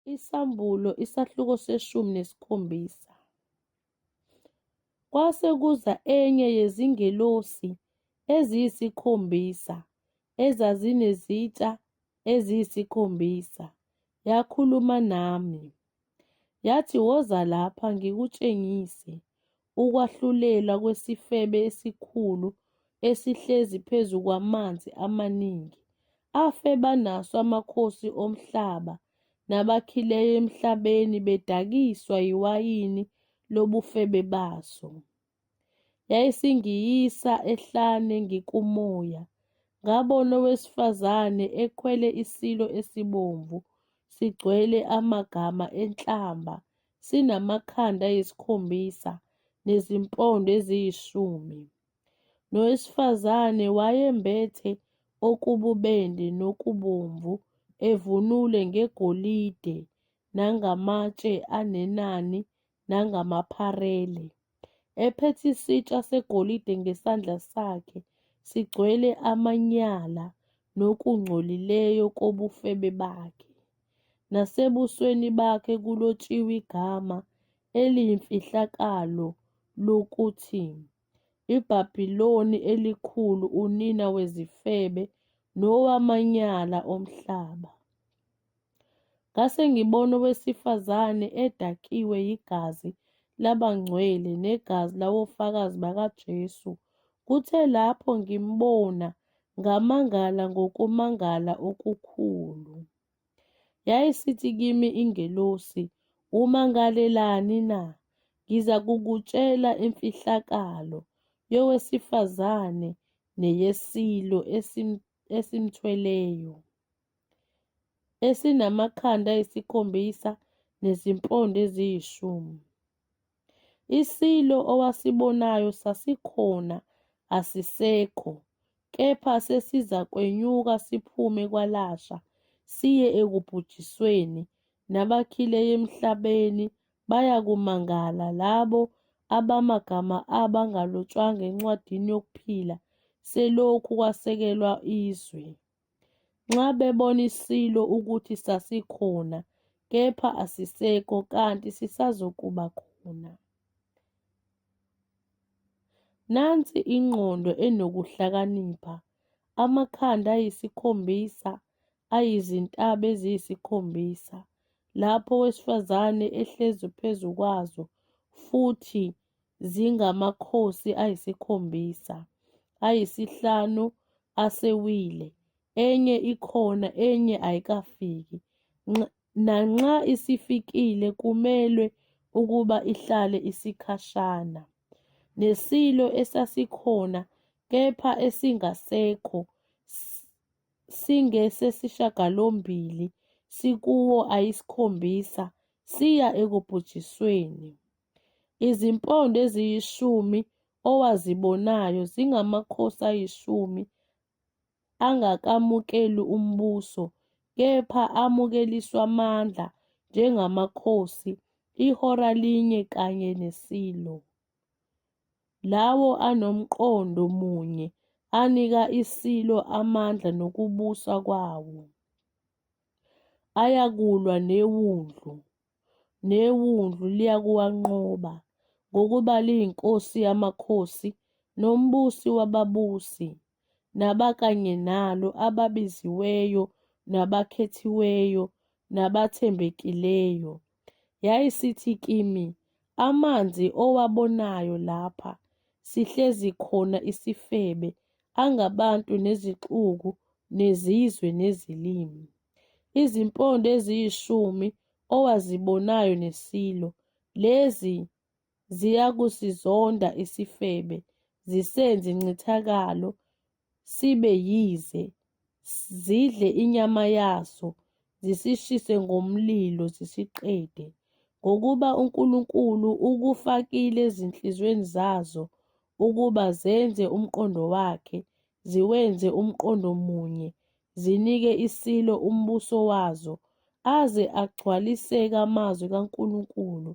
Isahluko isahluko seshumi nesikhombisa. Kwase kuza enye yezingelosi eziyisikhombisa ezazinezitsha eziyisikhombisa, yakhuluma nami, yathi, Woza lapha ngikutshengise. ukwahlulela kwesifebe esikhulu esihlezi phezu kwamanzi amaningi, afe banaso amakhosi omhlaba nabakhileyo emhlabeni bedakiswa yiwayini lobufebe baso. Yayisingiyisa ehlane ngikumoya, ngabona owesifazane ekhwele isilo esibomvu sigcwele amagama enhlamba sinamakhanda ayisikhombisa nezimpondo eziyishumi. Nowesifazane wayembethe okububende nokubomvu, evunule ngegolide nangamatshe anenani nangamapharele. ephethe isitsha segolide ngesandla sakhe sigcwele amanyala nokungcolileyo kobufebe bakhe, nasebusweni bakhe kulotshiwe igama eliyimfihlakalo lokuthi iBabiloni Elikhulu, unina wezifebe nowamanyala omhlaba. Ngase ngibona owesifazane edakiwe yigazi labangcwele negazi lawofakazi bakaJesu. Kuthe lapho ngimbona, ngamangala ngokumangala okukhulu. Yayisithi kimi ingelosi, Umangalelani na? Ngiza kukutshela imfihlakalo yowesifazane neyesilo esimthweleyo. esinamakhanda ayisikhombisa nezimpondo eziyishumi. ISilo owasibonayo sasikhona asisekho kepha sesizakwenyuka siphume kwalasha siye ekubhujisweni nabakhile emhlabeni bayakumangala labo abamagama abo angalotshwanga encwadini yokuphila selokhu kwasekelwa izwe. Nxa bebona isilo ukuthi sasikhona kepha asisekho kanti sisazokuba khona. Nansi ingqondo enokuhlakanipha, amakhanda ayisikhombisa ayizintaba eziyisikhombisa, lapho owesifazane ehlezi phezu kwazo futhi zingamakhosi ayisikhombisa, ayisihlanu asewile, enye ikhona, enye ayikafiki. Nanxa isifikile kumelwe ukuba ihlale isikhashana. Nesilo esasikhona kepha esingasekho singesesishagalombili sikuwo ayisikhombisa siya ekubhujisweni. Izimpondo eziyishumi owazibonayo zingamakhosi ayishumi angakamukeli umbuso kepha amukeliswa amandla njengamakhosi ihora linye kanye neSilo. Lawo anomqondo munye anika iSilo amandla nokubusa kwawo. Ayakulwa neWundlu. neWundlu liyakuwanqoba, ngokuba liyiNkosi yamakhosi noMbusi wababusi, nabakanye nalo, ababiziweyo, nabakhethiweyo, nabathembekileyo. Yayisithi kimi, Amanzi owabonayo lapha, sihlezi khona isifebe, angabantu nezixuku, nezizwe nezilimi. izimpondo eziyishumi owazibonayo neSilo, lezi ziyakusizonda isifebe, zisenze incithakalo, sibe yize, zidle inyama yaso, zisishise ngomlilo zisiqede, ngokuba uNkulunkulu ukufakile ezinhliziyweni zazo ukuba zenze umqondo wakhe, ziwenze umqondo munye, zinike iSilo umbuso wazo, aze agcwaliseke amazwi kaNkulunkulu.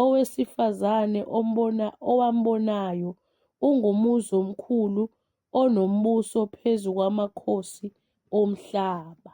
Owesifazane ombona, owambonayo ungumuzi omkhulu onombuso phezu kwamakhosi omhlaba.